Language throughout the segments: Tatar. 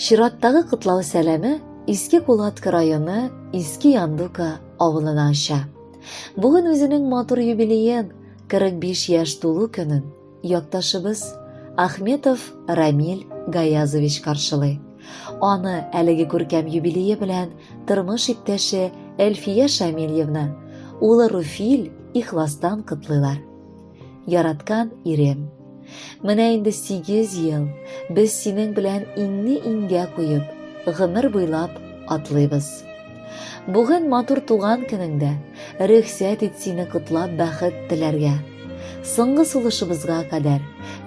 Чираттагы котлау сәләме Иске Кулатка районы Иске Яндука авылына оча. Бүген үзенең матур юбилеен, 45 яшь тулу көнен якташыбыз Ахметов Рамиль Гаязович каршылый. Аны әлеге күркәм юбилее белән тормыш иптәше Эльфия Шамильевна, улы Руфиль ихластан котлыйлар. Яраткан ирем. Менә инде 8 ел без синең белән иңне иңгә куеп, гомер буйлап атлыйбыз. Бүген матур туган көнеңдә рөхсәт ит сине котлап бәхет теләргә. Соңгы сулышыбызга кадәр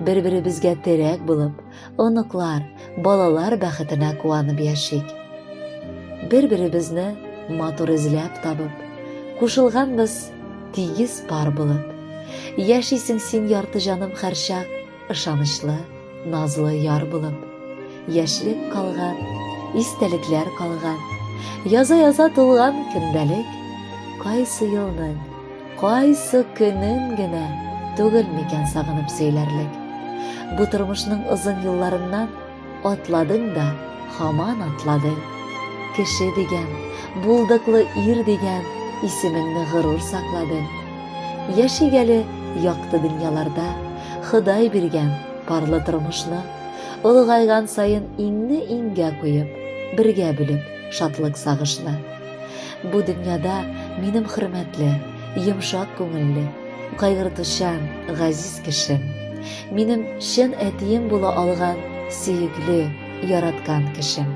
бер-беребезгә терәк булып, оныклар, балалар бәхетенә куанып яшик. Бер-беребезне матур эзләп табып, кушылганбыз тигез пар булып. Яшисең син ярты җаным хәрчак, ышанычлы, назлы яр булып. Яшьлек калган, истәлекләр калган, яза-яза тулган көндәлек, кайсы елның Кайсы көнен генә түгел микән сагынып сөйләрлек. Бу тормышның озын елларыннан атладың да, хаман атладың. Кеше дигән, булдыклы ир дигән исемеңне горур сакладың. Яшик әле якты дөньяларда, Ходай биргән парлы тормышны, олыгайган саен иңне иңгә куеп, бергә бүлеп шатлык сагышны. Бу дөньяда минем хөрмәтле, йомшак күңелле, кайгыртучан, газиз кешем. Минем чын әтием була алган сөекле, яраткан кешем.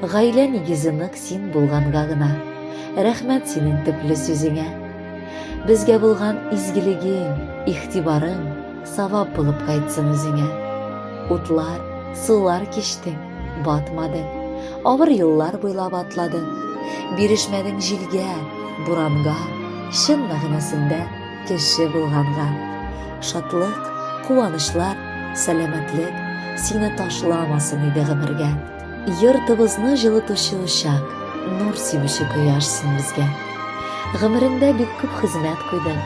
Гаилә нигезе нык син булганга гына. Рәхмәт синең төпле сүзеңә. Безгә булган изгелегең, ихтибарың савап булып кайтсын үзеңә. Утлар, сулар кичтең, Батмады. Авыр еллар буйлап атладың. Бирешмәдең җилгә, буранга, чын мәгънәсендә кеше булганга. Шатлык, куанычлар, сәламәтлек сине ташламасын иде гомергә. Йортыбызны җылытучы учак, нур сибүче кояш син безгә. Гомерендә бик күп хезмәт куйдың,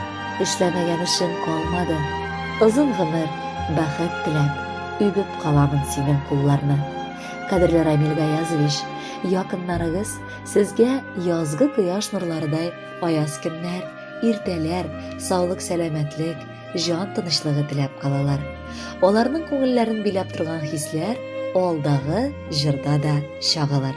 эшләмәгән эшең калмады. Озын гомер, бәхет теләп, Үбеп каламын синең кулларны. Кадерле Рамил Гаязович, якыннарыгыз сезгә язгы кояш нурларыдай аяз көннәр, иртәләр, саулык-сәламәтлек, җан тынычлыгы теләп калалар. Аларның күңелләрен биләп торган хисләр алдагы җырда да чагылыр.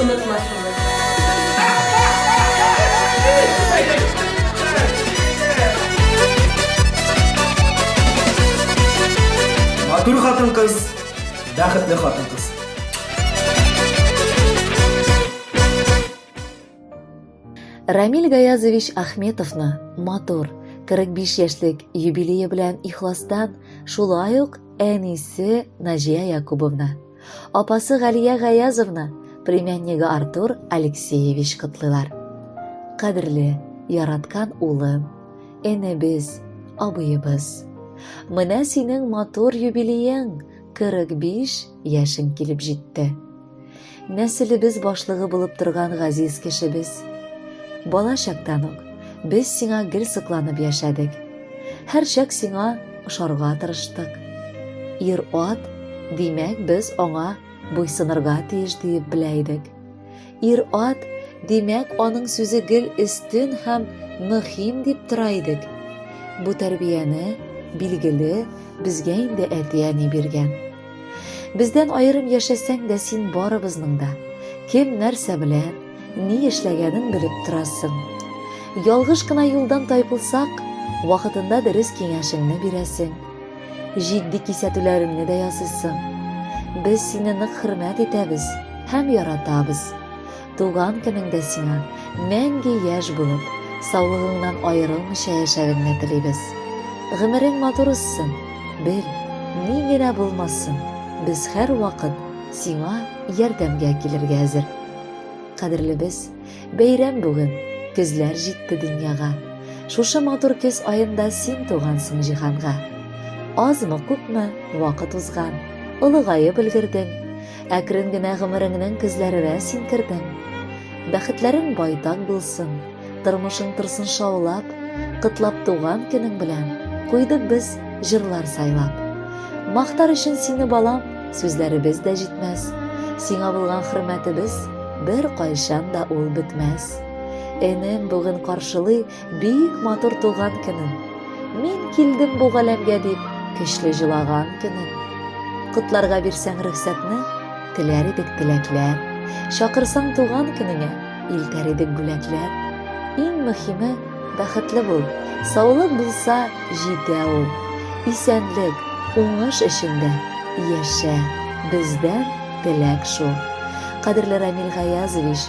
Онытмасыннар. Матур хатын-кыз, бәхетле хатын-кыз. Рамил Гаязович Ахметовны матур 45 яшьлек юбилее белән ихластан, шулай ук әнисе Наҗия Якубовна. Апасы Галия Гаязовны, племяннигы Артур Алексеевич котлыйлар. Кадерле, яраткан улым, энебез, абыебыз. Менә синең матур юбилеең 45 яшең килеп җитте. Нәселебез башлыгы булып торган газиз кешебез. Бала чактан ук Без сиңа гел сыкланып яшәдек. Һәрчак сиңа ошарга тырыштык. Ир-ат, димәк, без аңа буйсынырга тиеш диеп белә идек. Ир-ат, димәк, аның сүзе гел өстен һәм мөһим дип тора идек. Бу тәрбияне, билгеле, безгә инде әти-әни биргән. Бездән аерым яшәсәң дә син барыбызның да. Кем нәрсә белә, ни эшләгәнен белеп торасың. Ялгыш кына юлдан тайпылсак, вакытында дөрес киңәшеңне бирәсең. Җитди кисәтүләреңне дә ясыйсың. Без сине нык хөрмәт итәбез һәм яратабыз. Туган көнеңдә сиңа мәңге яшь булып, саулыгыңнан аерылмыйча яшәгеңне телибез. Гомерең матур үссен, бел, ни генә булмасын, без һәрвакыт сиңа ярдәмгә килергә әзер. Кадерлебез, бәйрәм бүген, көзләр җитте дөньяга. Шушы матур көз аенда син тугансың җиһанга. Азмы, күпме вакыт узган, олыгаеп өлгердең. Әкрен генә гомереңнең көзләренә син кердең. Бәхетләрең байтак булсын, тормышың торсын шаулап, кытлап туган көнең белән, куйдык без җырлар сайлап. Мактар өчен сине балам, сүзләребез дә җитмәс. Сиңа булган хөрмәтебез бер кайчан да ул бетмәс. Энем бүген каршылый Бик матур туган көнем. Мин килдем бу галәмгә дип, көчле җылаган көнем. Котларга бирсәң рөхсәтне, теләр идек теләкләр. Чакырсаң туган көнеңә, илтәр идек бүләкләр. Иң мөһиме, бәхетле бул. Саулык булса, җитә ул. Исәнлек, уңыш эчендә яшә. Бездән теләк шул. Кадерле Рамил Гаязович,